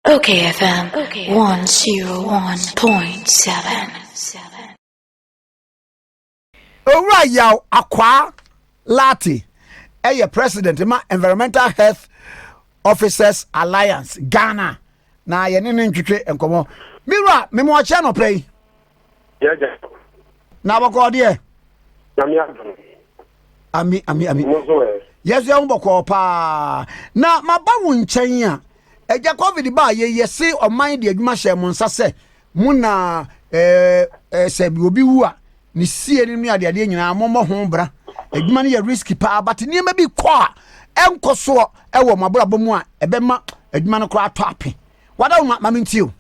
Okay FM 101.7. Owura Yaw Akwaa Lartey yɛ president ma Environmental Health Officers Alliance Ghana na yɛne no ntwetwe nkɔmmɔ. Me wura, mema ɔkyɛ anɔpa yi. yɛgya na bɔkɔɔ deɛ nyame adom ami ami ami mo nso ɛ yɛso yɛ ho bɔkɔɔ paa na maba wo nkyɛn a ɛgya covid ba a yɛyɛ se ɔman de adwuma hyɛ mo nsa sɛ mo na eh, eh, sɛ obi wu a ne sie no ne adeadeɛ nyinaa mommɔ ho bra adwuma no yɛ risk paa but nneɛma bi kɔ a ɛnkɔ soɔ ɛwɔ mo abrabɔ mu a ɛbɛma adwuma no koraa atɔ ape wada wo ma ma mentio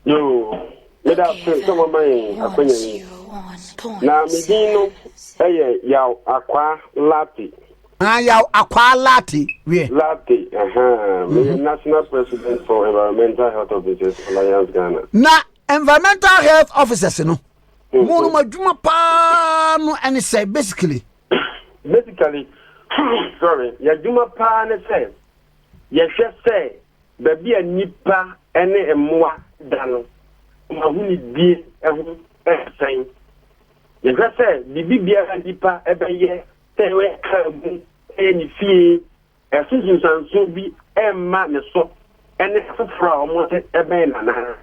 Yoo, meda ase sɛ moama yɛn akwanya yi. Na me din no yɛ Yaw Akwaa Lartey. Ah, Yaw Akwaa Lartey, wiɛ. Lartey, aha, meyɛ mhm. National President for Environmental Health Officers Alliance Ghana. Na Environmental Health Officers no, mhm. mo no mo adwuma paa no ɛne sɛ basically. Basically, sorry, yɛ adwuma paa ne sɛ. yɛhwɛ sɛ baabi a nnipa ne mmoa da no, wɔn ahonidie ho yɛ sɛn? Yɛhwɛ sɛ biribi biara a nnipa bɛyɛ, sɛ ɔyɛ kaa mu, sɛ ɔyɛ ne fie, ɛso nsunsuansoɔ bi mma ne so ne afoforɔ a wɔte bɛn no anaa?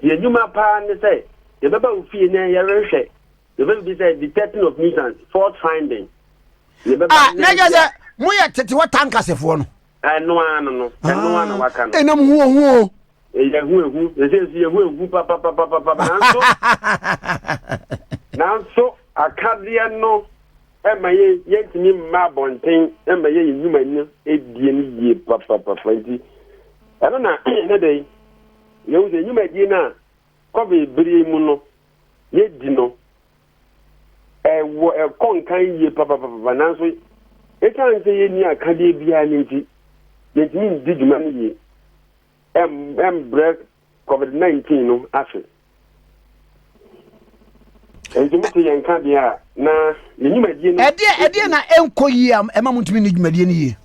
Yɛn nnwuma paa ne sɛ yɛbɛba wo fie na yɛrehwɛ yɛbɛbisa detecting of nuisance fault finding a na ɛnyɛ sɛ moyɛ tetewa tankasefoɔ no ɛno ara no no ɛno ara na ah, waka no ɛnam hu ohu o yɛhu ehu ɛsɛ nso yɛhu ehu papapapapa nanso nanso akadeɛ no ɛma yɛ yɛntumi mma abɔnten ɛma yɛ yɛ nnwuma no edie no yie papapapa nti ɛno na ne de yɛhu sɛ nnwumadie no a Covid bere yi mu no, yɛadi no. Ɛwɔ ɛkɔ nkan yie papapapa nanso ɛsiane sɛ yɛnni akadeɛ biara no nti, yɛntumi ndi dwuma no yie ɛmbrɛ Covid-19 no ase. Ɛnti mote yɛn ka deɛ a na yɛn dwumadie no. Ɛdeɛ ɛdeɛ na ɛnkɔ yie a ɛma mo ntumi nni dwumadie no yie.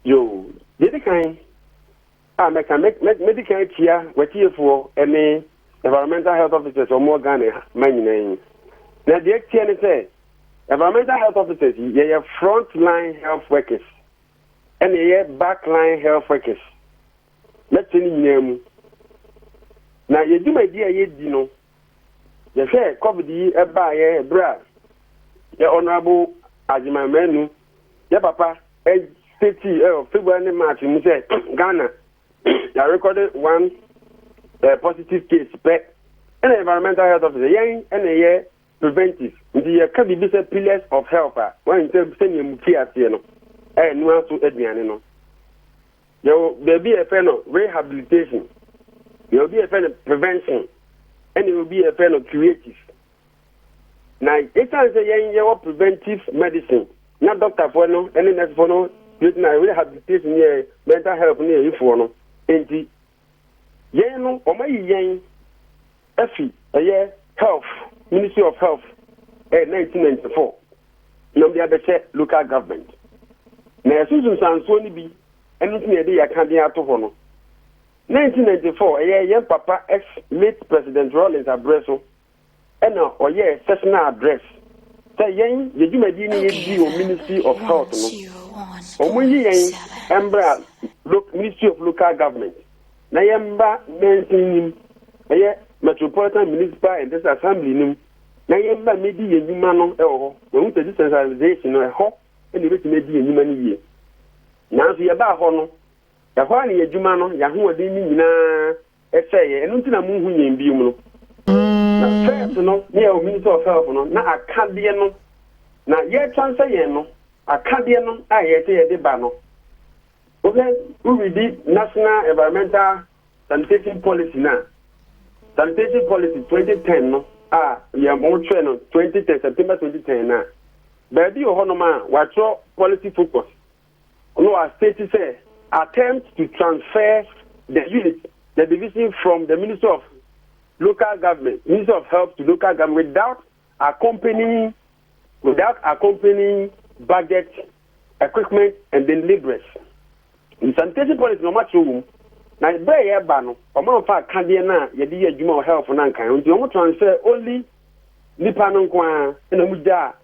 Yoo, yɛdi kan A mɛka mɛ mɛ mɛdi kan akyia watiefoɔ ɛne environmental health officers wɔn wɔ Ghana ha ma nyinaa yi na deɛ ɛteɛ ne sɛ environmental health officers yi yɛyɛ front line health workers ɛna yɛyɛ back line health workers mɛte ne nyinaa mu na yɛ dwumadie a yɛdi no Yɛhwɛ covid yi ɛbaayɛ ɛberɛ a yɛ honourable Agyeman Manu yɛ papa ɛ state ɛ February ne March mu sɛ Ghana yɛ record one ɛ positive case pɛ ɛna environmental health officer yɛn ɛna ɛyɛ preventive nti yɛ ka biribi sɛ pillars of health a wɔn sɛ sɛnea mu ti aseɛ no ɛyɛ noa so aduane no Yɛwɔ baabi a yɛfrɛ no rehabilitation, yɛwɔ bi a yɛfrɛ no prevention, ɛna yɛwɔ bi a yɛfrɛ no curative. Na ɛsiane sɛ yɛn yɛwɔ preventive medicine na dɔktafoɔ no ne nɛsefoɔ no gyina rehabilitation yɛ mental health no yɛ yifoɔ no nti Yɛn no wɔayi yɛn afi ɛyɛ health ministry of health ɛyɛ 1994 na wɔde abɛhyɛ local government na yɛso nsunsuansoɔ no bi ɛno nti na yɛde yɛ akadeɛ ato hɔ no 1994 ɛyɛ yɛn papa ex late president Rawlings abrɛ so Ɛna ɔyɛɛ sessional address sɛ yɛn yɛ dwumadie no yɛ di wɔ ministry of health no ɔmo yi yɛn mbra ministry of local government na yɛn mba mansin nim ɛyɛ metropolitan municipal and district assembly nim na yɛn mba medi yɛn dwuma no ɛwɔ hɔ wɔn sɛ decentralization no ɛhɔ ɛna ebetumi adi yɛn dwuma no yie nanso yɛbaa hɔ no ɛhɔ a ne yɛ dwuma no yɛ ahoɔden ne nyinaa Ɛsɛe yɛn, ɛno nti na mo nhu yɛn bio no. Na first no, ne a ohints of help no, na akadeɛ no na yɛtwa nsɛ yɛn no, akadeɛ no a yɛtwa yɛde ba no. Wohwɛ, wo readi National Environmental Sanitation Policy no a, Sanitation Policy 2010 no a yɛn mo twerɛ no 2010, September 2010 no a, baabi wɔ hɔnom a wɔatwerɛ policy focus. no a state sɛ attempt to transfer the unit, the division from the Ministry of Local Government, Ministry of Health to Local Government without accompanying without accompanying budget, equipment and then laborers. In sanitation policy na wɔn akyerɛ wɔn mu. na berɛ a yɛreba no wɔn amfa akadeɛ no a yɛde yɛ adwuma wɔ health no ankan nti wɔn transfer only nipa no nko ara na wɔn gyaa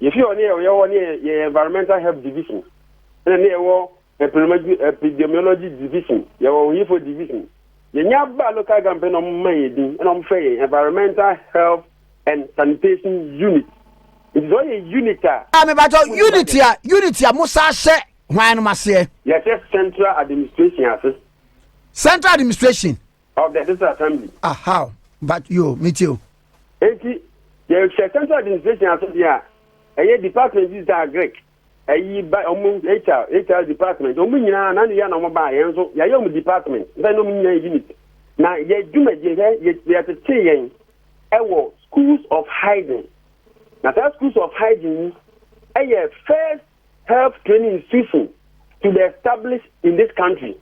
Yɛfiri hɔ ne yɛyɛ hɔ ne yɛyɛ environmental health division ɛna ne yɛwɔ epidemiology division yɛwɔ oyifo division yɛnya ba local government na wɔn mma yɛn din ɛna wɔn fɛ yɛn environmental health and sanitation unit nti sɛ ɔyɛ unit a. a mebatɔ unit a unit a musa ahyɛ hwan no aseɛ. yɛhyɛ central administration ase. central administration Ɔ bɛ bisa asɛm bi. Ah how but yo me tie o. Enti yɛ hwɛ central administration ase deɛ a ɛyɛ department bi saa Greek ɛyi ba ɔmo HR HR department ɔmo nyinaa na ne yɛ na ɔmo baa yɛn nso yɛayɛ ɔmo department nsa na ɔmo nyinaa yɛ unit na yɛ dwumadie hwɛ yɛ yɛtete yɛn ɛwɔ schools of hygiene na saa schools of hygiene yi ɛyɛ first health training institution to be established in this country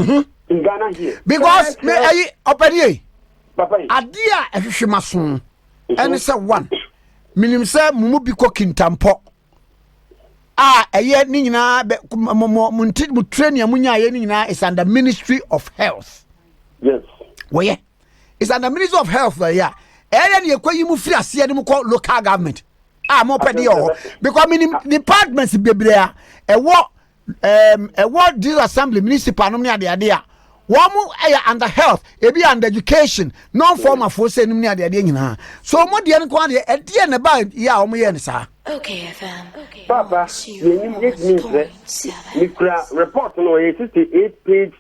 Mhm. in Ghana here. Because me ayi ɔpɛni yɛ. Papa yi. Adeɛ a ɛhwehwɛ ma so mhm. ɛne sɛ one menim sɛ mo mu bi kɔ kintampɔ a ɛyɛ ne nyinaa bɛ mo mo mo nti mo training a mo nya ayɛ ne nyinaa is under ministry of health. Yes. Wɔyɛ is under ministry of health wɔyɛ a ɛyɛ ne yɛkɔ yi mu firi aseɛ ne mo kɔ local government a mo pɛ de yɛ wɔ hɔ because menim departments bebree a ɛwɔ. um, ɛwɔ these assembly municipal nom ne adeade a wɔn ɛyɛ eh, under health ebi under education non formal foɔ sɛ nom ne adeade nyinaa so wɔn deɛ no kɔn adeɛ ɛdeɛ na ɛba yɛ a wɔn yɛ no saa. papa yɛnim yɛtumi nsrɛ mekura report no ɔyɛ 68 page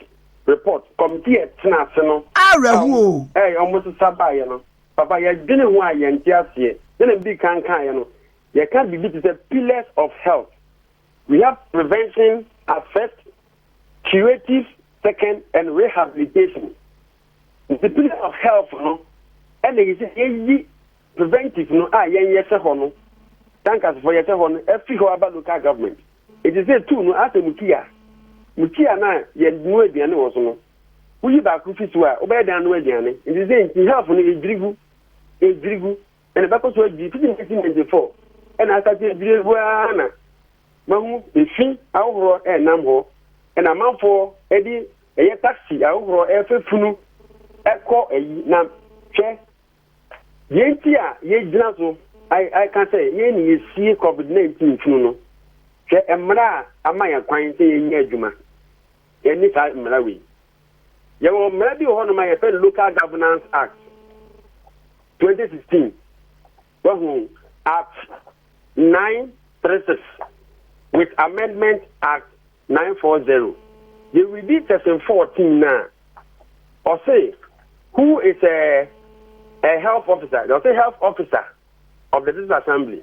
report committee ɛtena ase no awerɛho o ɛyɛ wɔn sesa baeɛ no papa yɛdwene ho a yɛnte aseɛ sɛdeɛ medi kan kaeɛ no yɛka biribi te sɛ pillars of health Rehab prevention as first, curative second and rehabilitation. The pillar of health no ɛna yi sɛ yɛyi preventive no a yɛn yɛhyɛ hɔ no tankasfoɔ yɛhyɛ hɔ no afiri hɔ aba local government. Ɛti sɛ tu no asɛ mu tia mu tia no a yɛnu aduane wɔ so no woyi baako fi so a wobɛyɛ dan no aduane nti sɛ nti health no ɛdwiri gu ɛdwiri gu ɛna bɛkɔ so adwiri fiti 1994 ɛna asate adwiri agu ara na mahu efi ahohorɔ ɛnam hɔ ɛna amanfoɔ ɛde ɛyɛ taxi ahohorɔ ɛfɛ funu ɛkɔ ɛyi na hwɛ deɛ nti a yɛgyina so ɛka sɛ yɛn ne yɛsie covid-19 funu no hwɛ mmara a ama yɛn kwan sɛ yɛnyɛ adwuma yɛne saa mmara wei Yɛwɔ mmara bi wɔ hɔnom a yɛfrɛ no Local Governance Act 2016. Wahu Act 936 with Amendment Act 940. Yɛredi section 14 no a, ɔse who is a, a health officer? Ɔse health officer of the district assembly.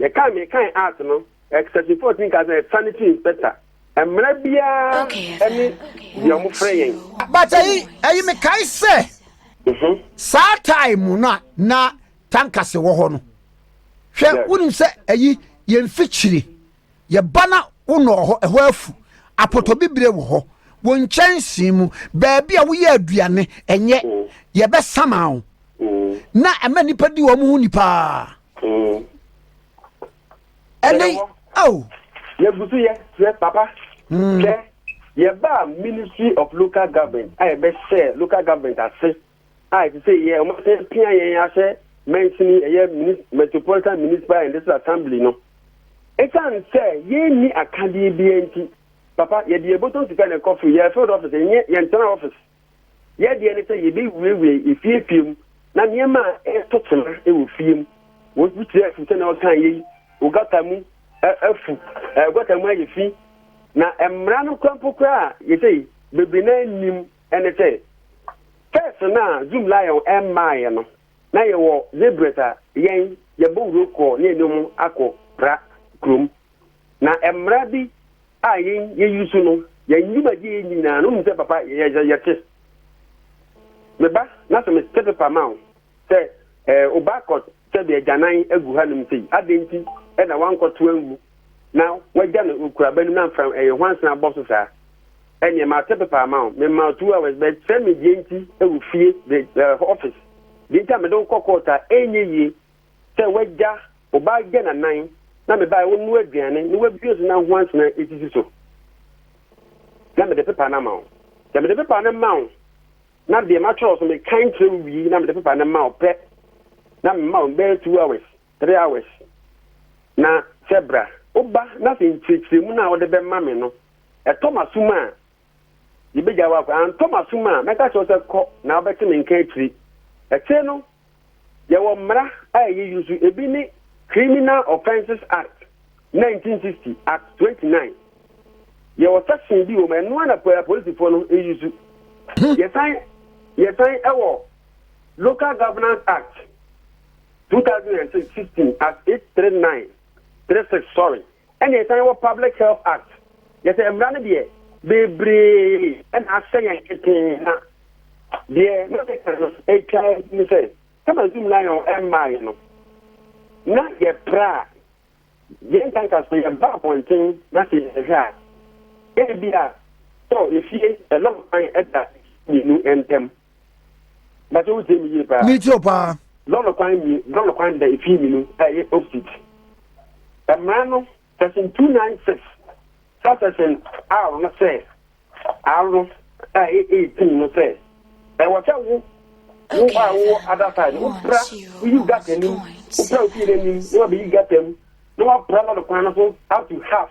Yɛkae mekae art no, eh, Section 14 ka sɛ sanitary inspector. Mmara biara ne deɛ wɔfrɛ yɛn. But ayi, ayi mekae sɛ, mhm. saa time mu no a na tankase wɔ hɔ no, hwɛ wonim sɛ ayi yɛn mfikyire, yɛba na wonɔɔ hɔ, ɛhɔ afu, apɔtɔbibire wɔ hɔ, wo nkyɛnsee mu, baabi a woyɛ aduane, ɛnyɛ, mm. yɛbɛsama wo. Mm. Na ɛma nnipa di wɔn ho ni paa. ɛne ao. yɛgu so yɛ srɛ papa hmm. sɛ yɛbaa ministry of local government a yɛbɛhyɛ local government ase a ɛte sɛ yɛ ɔmo sɛ pia yɛn ahyɛ mɛnsini ɛyɛ metropolitan municipal and district assembly no ɛsiane sɛ yɛnni akadeɛ biara nti papa yɛde yɛbɔtɔ sika na ɛkɔ firi yɛ field office ɛnyɛ yɛntena office Yɛn deɛ ne sɛ yɛbɛwiawia efiefie mu na nneɛma a ɛto tema wɔ fie mu. Wɔbi tiri afu sɛnea ɔkaa yɛ yi, ogata mu afu, gɔta mu ayɛ fi. Na mmara no kora mpo koraa yɛsɛ bebree na nnim ne sɛ first no a Zoom Lion ɛmmaeɛ no na yɛwɔ Zebrett a yɛn yɛbɔ wuro kɔ ne yɛne wɔn akɔ pra kurom. Na mmara bi a yɛn yɛyi so no, yɛn dwumadie a yɛn nyinaa no, wonim sɛ papa yɛ yɛ yɛte. Me ba, na sɛ mete pepa ma wo sɛ ɛɛ oba akɔ sɛbi agyanan agu ha nom sei, adɛn nti na wankɔto angu na wagya no okuraba nom na mfra ɛyɛ hwansena bɔ so saa? Ɛneɛ mate pepa ama wo, mema wo two hours, but kyerɛ me deɛ nti ɛwɔ fie, the, uh, office, deɛ nti a mede wo kɔ court a ɛnyɛ yie sɛ w'agya, wo ba agya na nan na me bae wonnoa aduane na wabue so na ho ansena esisi so na mede pepa no ama wo. Sɛ mede pepa no ma wo na deɛ matwerɛ so mekan kyerɛ wo wie na mede pepa no ma wo pɛ na mema wo bɛyɛ two hours, three hours na sɛ bra wo ba na sɛ nkyerɛkyerɛmu no a wode bɛma me no ɛtɔ m'asom a yɛbɛgya wo akɔ, antɔ m'asom a mɛka kyerɛ wo sɛ kɔ na wobɛte me nka akyiri. Akyire no. Yɛwɔ mmara a ɛyɛ yi nso, ebi ne Criminal Offences Act, Nineteen Sixty, Act Twenty Nine. Yɛwɔ section bi wɔ mu, ɛno ara na apolisifoɔ no yi nso. Yɛsan yɛsan wɔ Local Governance Act, Two Thousand and Sixteen, Act Eight Three Nine, Three Six, sorry. Ɛna ɛsane wɔ Public Health Act, kyerɛ sɛ mmara no deɛ bebree na ahyɛ yɛn ketee na deɛ na meka no atwa adi ne sɛ kama Zoom Lion mmaeɛ no na yɛpra a yɛn nkanka so yɛba abɔnten na sɛ yɛhwɛ a ebi a tɔ efie ɛlɔm kwan ɛda mmienu ntam. Bàtà o tiẹ̀ mi yie paa. Mi ti o paa. Lɔlɔ kwan mi lɔlɔ kwan da efi mi no ɛyɛ opposite. Mmara no section two nine six subsection r no sɛ r no ɛyɛ eighteen no sɛ ɛwɔ sɛ wo wo a wowɔ other side wo pra woyi gata nim wo pra ofie n'anim na wabɛyi gata mu na wapra lɔlɔ kwan no so up to half.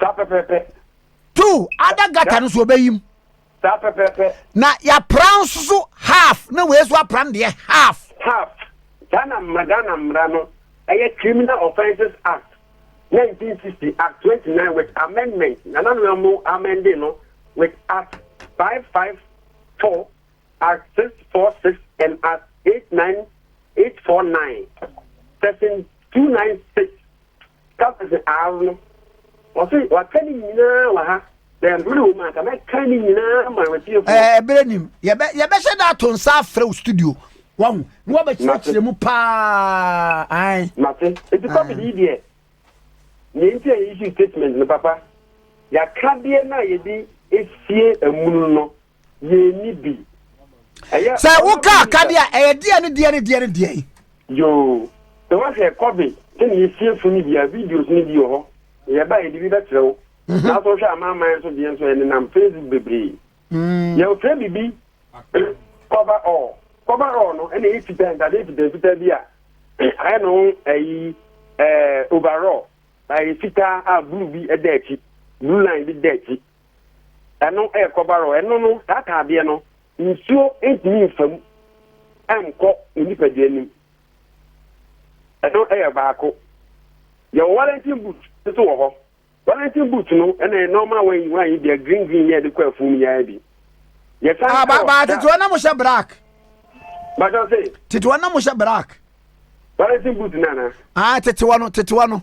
saa pɛpɛɛpɛ. two other gutter no so ɔbɛyi mu. saa pɛpɛɛpɛ. na yɛapra nso so half na wei so apra no deɛ half. half saa na mmara Ghana mmara no ɛyɛ Criminal Offences Act 1960 Act 29 with amendment nana no mu amende no with Act 554 Act 646 and Act 89849 section 296. Kapɛrse Aar no, ɔse, Wɔaka ne nyinaa wɔ ha, na mmerɛ wɔ mu a anka mɛka ne nyinaa ama w'atiefoɔ. Ɛɛ, ɛberɛ nim. Yɛbɛ, yɛbɛhyɛ da ato nsa afrɛ wo studio, wahu, na wabɛkyerɛkyerɛ mu paa, ae. Mate. Enti covid yi deɛ, deɛ nti a yɛ issue statement no, papa, yɛaka deɛ no a yɛde asie amunu no, yɛnni bi. Sɛ woka akadeɛ a, ɛyɛ deɛ ne deɛ ne deɛ ne deɛ yi. Yoo, sɛ woahwɛ COVID sɛdeɛ yɛsie so no bi a, videos no bi wɔ hɔ. Yɛba a yɛde bi bɛkyerɛ wo. Mhm. Nanso wohwɛ amanaman nso deɛ nso ɛnenam Facebook bebree. Mm. Yɛfrɛ biribi cover all. Cover all no ɛna ɛyɛ fitaa ntadeɛ fitaa fitaa bi a ayɛ no ho ayi ɛɛ overall. Ɛyɛ fitaa a blue bi ɛda akyi, blue line bi da akyi. ɛno yɛ kɔbaro. Ɛno no, saa ataadeɛ no, nsuo ntumi nfa mu nkɔ ne nipadua no mu. Ɛno yɛ baako. Yɛwɔ Wellington boot nso wɔ hɔ. Wellington boot no ɛna yɛ normal wɔn yi wɔn yi deɛ green green yɛ de kɔ afuo mu yɛayɛ bi. Yɛsan ah, ba ba tetewa na mo hyɛ black. Bàtà se. Tetewa na mo hyɛ black. Wellington boot nana. Ah tetewa no tetewa no.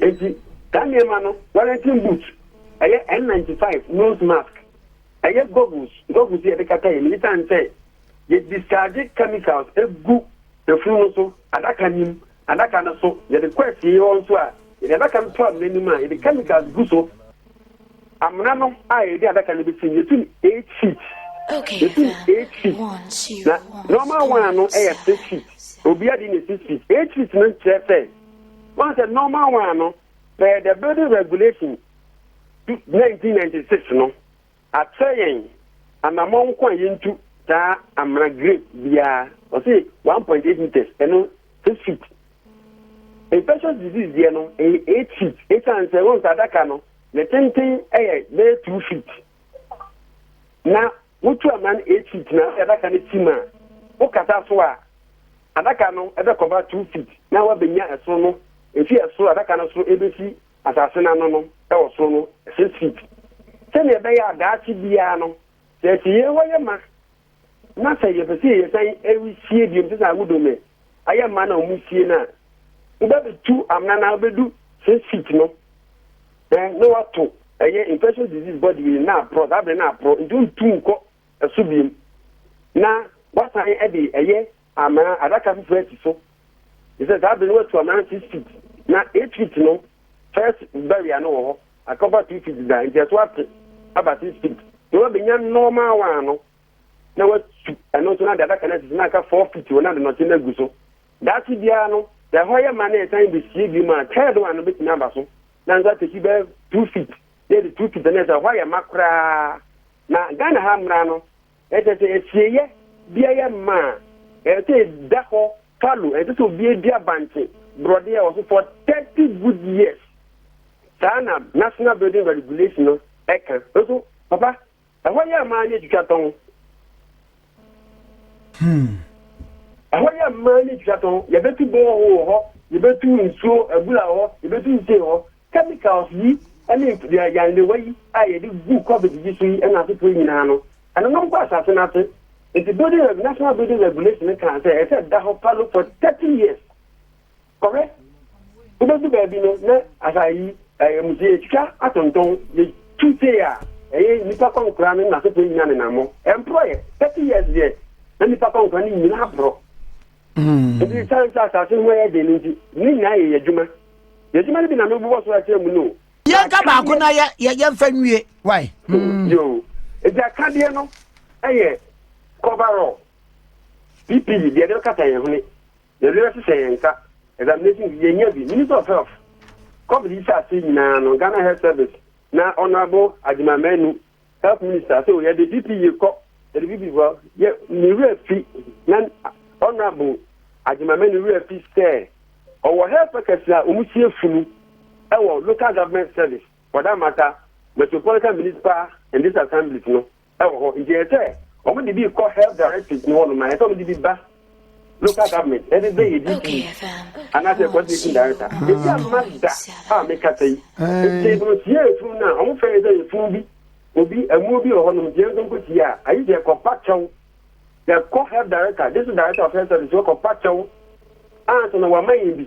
Enti, saa nneɛma no, Wellington boot, ɛyɛ N ninety five nose mask, ɛyɛ goggles, goggles a yɛde kata yɛn ani esiane sɛ yɛdischarge chemicals gu afunu no so, adaka no mu, adaka no so, yɛde kɔ afie hɔ nso a, yɛde adaka no to amena anim a, yɛde chemicals gu so. amena no a yɛde adaka no bɛsi no yɛtum 8 feet yɛtum 8 feet na normal one ano yɛ 6 feet obia de ne 6 feet 8 feet no kyerɛ sɛ wɔn sɛ normal one ano pɛɛ the building regulation 1996 no akyerɛ yɛn anamɔ nko a yɛntu saa amena grape biara ɔse 1.8 meters ɛno 6 feet Infectious disease deɛ no, ɛyɛ eight feet. Ɛsiane sɛ wɔn sɛ adaka no, ne tenten yɛ bɛyɛ two feet. Na wotu ama no eight feet na ɔde adaka no ti mu a, wokata so a, adaka no ɛbɛkɔba two feet na wabɛnya ɛsoro no, ɛfi ɛsoro adaka no soro ɛbɛsi asase no ano no ɛwɔ soro no six feet. Sɛdeɛ ɛbɛyɛ a daakye biara no, sɛ ɛsɛ Yehowa yɛ ma Na sɛ yɛpɛ sɛ yɛsan sie biom sɛ sɛ awodo no ayɛ mma na wɔn sie no a, wobɛbɛtu amena na wobɛdu six feet no ɛn na wato ɛyɛ infectious disease body wei na aporɔ saa berɛ na aporɔ nti wontu nkɔ ɛso biom na wasan ɛde ɛyɛ amena adaka foforɔ asi so Efisɛ saa bere no wɔatu aman six feet, na eight feet no first barrier no wɔ hɔ, akɔfa two feet da nti ɛso ate aba six feet. Na wɔabenya normal one no na wɔatu ɛno nso na de adaka no asisi na aka four feet wɔ na de nɔte no agu so. Daakye biara no sɛ ɛhɔ yɛ ma na yɛsan besie bio ma third one no betumi aba so na nso ateki bɛyɛ two feet na yɛde two feet na ɛsɛ ɛhɔ ayɛ ma koraa. Na Ghana ha mmara no Ɛkyerɛ sɛ asieyɛ biara yɛ mma a, ɛsɛ sɛ ɛda hɔ fallow. Ɛnsɛ sɛ obi dua bankye borɔdeɛ wɔ so for thirty good years. Saa na National Building Regulation no ka. Nso papa, ɛhɔ yɛ mma ne atwitwa tɔn. Ɛhɔ yɛ mma ne atwitwa tɔn. Yɛbɛtu borehole wɔ hɔ, yɛbɛtu nsuo abura wɔ hɔ, yɛbɛtu nsuo wɔ hɔ. Chemicals yi ne mfidi a nyandewa yi a yɛde gu covid yi so yi nam so pue nyinaa no, ɛnonom kɔ asase no ase. Enti building reg National Building Regulation no kaa sɛ ɛsɛ sɛ ɛda hɔ palo for thirty years. Kɔhwɛ, wobɛdu baabi no na asa yi ɛyɛ musi, yɛtwitwa atontɔn, yɛtu tee a ɛyɛ nnipa kɔnkora ne n'asefoɔ nyinaa nenam hɔ. Ɛmporɔeɛ. Thirty years deɛ na nnipa kɔnkora no nyinaa aporɔ. Enti esiane sɛ asase ho yɛ den no nti, ne nyinaa yɛ yɛn adwuma. Yɛn adwuma no bi na merebobɔ so akyerɛ mu no o. Yɛnka baako na yɛ, yɛ, yɛmfa nwie. Wai? Mm. Yo. Enti akadeɛ no yɛ coverall, PPE, deɛ yɛde bɛkata yɛn hwene, deɛ yɛde bɛhyehyɛ yɛn nsa, examination kit, yɛnya bi. Minister of Health, COVID yi hyɛ aseɛ nyinaa no, Ghana Health Service na Honourable Agyemang Manu Health Minister so yɛde PPE kɔ yɛde PPE kɔ yɛ ne wura fi na honourable Agyemame ne wura fi sɛ ɔwɔ health workers a wɔn sie funu ɛwɔ local government service for that matter metropolitan municipal and district assemblies no ɛwɔ hɔ nti yɛ sɛ wɔn de bi kɔ health directorate no hɔ nom na yɛ sɛ wɔn de bi ba. local government ɛde bɛ yɛ DP anaasɛ coordinating director ebi ama da a mekasa yi nti no tie efunu no a wɔn fɛn yɛ sɛ efunu bi obi ɛmu bi wɔ hɔ nom deɛ nso nko tie a ayi deɛ kɔpa kyɛw yɛkɔ health director district director of health service kɔpa kyɛw ansa na wɔama yɛn bi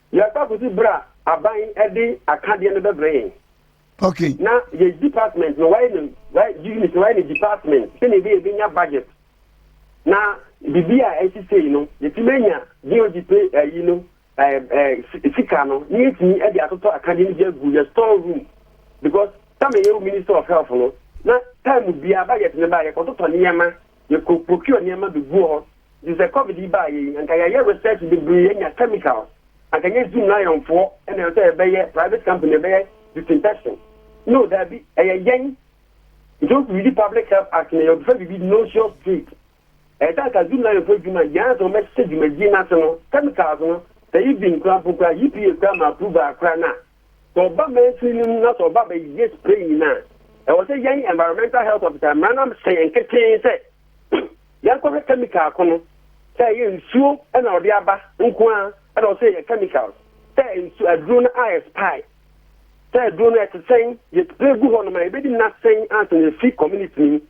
Yɛakɔ akosi bere a aban de akadeɛ no bɛbrɛ yɛn. Okay. Na yɛ department no wayɛ no wayɛ unit no wayɛ no department sɛnea ebi ebi nya budget na bibi a ɛsi sei no yɛtumi anya DOD pe ayi no ɛɛ sika no ne yɛtumi de atotɔ akadeɛ no bi agu yɛ store room because sɛ meyɛ minister of health no na time biara budget no ba yɛkɔtotɔ nneɛma. Yɛkɔ procure nneɛma beguɔ hɔ nti sɛ covid yi baa yɛ yi anka yɛayɛ research bebree yɛanya chemical anka nyɛ zoom lion foɔ ɛna ɛwɔ sɛ yɛbɛyɛ private company ɛbɛyɛ disinfection no daabi ɛyɛ yɛn nti wo read public health act no yɛbɛfa biribi nauseous treat ɛyɛ sɛ anka zoom lion foɔ adwuma yɛn ansa wɔbɛhyɛ dwumadie no ase no chemicals no sɛ even kora mpo kora EPA kora ma approval kora no a Sɛ ɔba mansin no mu na sɛ ɔba abɛyɛ spray nyina a, ɛwɔ sɛ yɛn environmental health officer, mmara no ahyɛ yɛn ketee sɛ yɛnkɔhwɛ chemical ko no sɛ ɛyɛ nsuo na ɔde aba nko ara na ɛwɔ sɛ yɛyɛ chemicals sɛ nsu aduro no a expire sɛ aduro no ɛte sɛn yɛ spray gu hɔ nom a yɛbɛdi nna sɛn ansa na yɛfi community no mu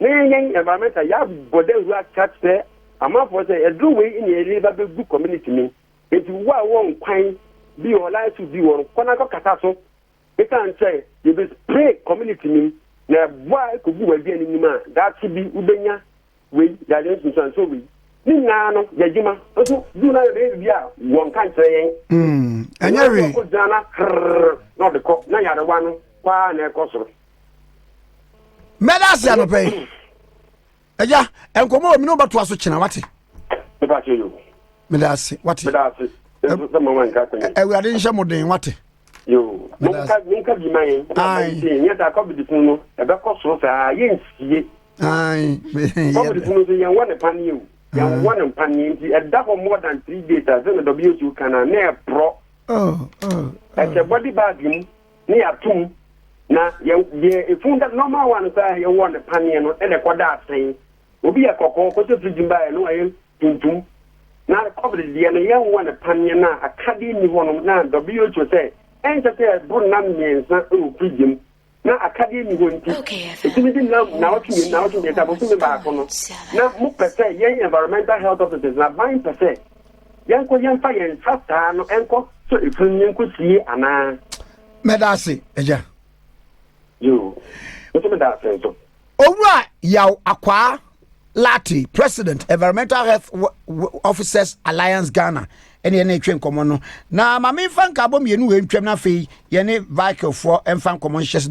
na yɛn yɛn environmental yɛabɔ dawuro akyerɛkyerɛ amanfoɔ sɛ aduro wei ne yɛde ba bɛgu community no mu Enti wo a wowɔ nkwan bi wɔ hɔ life suit bi wɔ hɔ no kɔ na kɔ kasa so esan kyɛ yɛ bɛ spray community no mu na ɛboa kɔ gu w'aduan no nim a daakye bi wo bɛnya wei yare nsunsuansoɔ wei ne nyinaa no yɛ adwuma nso du na yɛ bɛyɛ bibi a wɔ nka nkyerɛ yɛn mm, ɛnyɛ wei ɛnyɛ wei gyina na hrrr na ɔde kɔ na yarewa no kɔ a na ɛkɔ soro mɛda ase anɔpɛ yi ɛya nkɔmɔ wɔ mi ne ɔbɛtoa so kyena wate meda ase wate awurade nhyɛ mo den wate menka bi ma yɛn nyɛ saa covid funu no ɛbɛkɔ soro saa yɛnsie covid funu so yɛnwɔ ne paneɛ o yɛnwɔ ne mpaneɛ nti ɛda hɔ more than three days a sɛ na wso ka no a na ɛporɔ ɛhyɛ body bag mu na yɛato mu, na yɛ, deɛ ɛfunu da, normal one koraa a yɛwɔ no paneɛ no na ɛkɔda asɛn. Obi yɛ kɔkɔɔ, kɔsɛ fridge mu baeɛ no wayɛ tuntum. Na covid deɛ no yɛnwɔ no paneɛ no a akadeɛ nni hɔ nom, na WHO sɛ ɛnsɛ sɛ ɛboro nna mmiɛnsa wɔ fridge mu, na akadeɛ nni hɔ nti, ɛtumi di nna nnawɔtwe mmienu, nnawɔtwe mmiɛnsa, bosome baako no. Na mopɛ sɛ yɛn environmental health officers no, aban pɛ sɛ. yɛnkɔ yɛmfa yɛn nsa saa no nkɔ sɔ efunu no yɛnkɔ sie anaa. mɛda ase agya. yoo nso mɛda ase nso. owura yaw akwaa lati president environmental health officers alliance ghana ɛne ɛne ɛtwe nkɔmɔ no na maame nfa nkaabɔ mmienu wɔ ntwam na afei yɛne vikilfoɔ nfa nkɔmɔ nhyɛ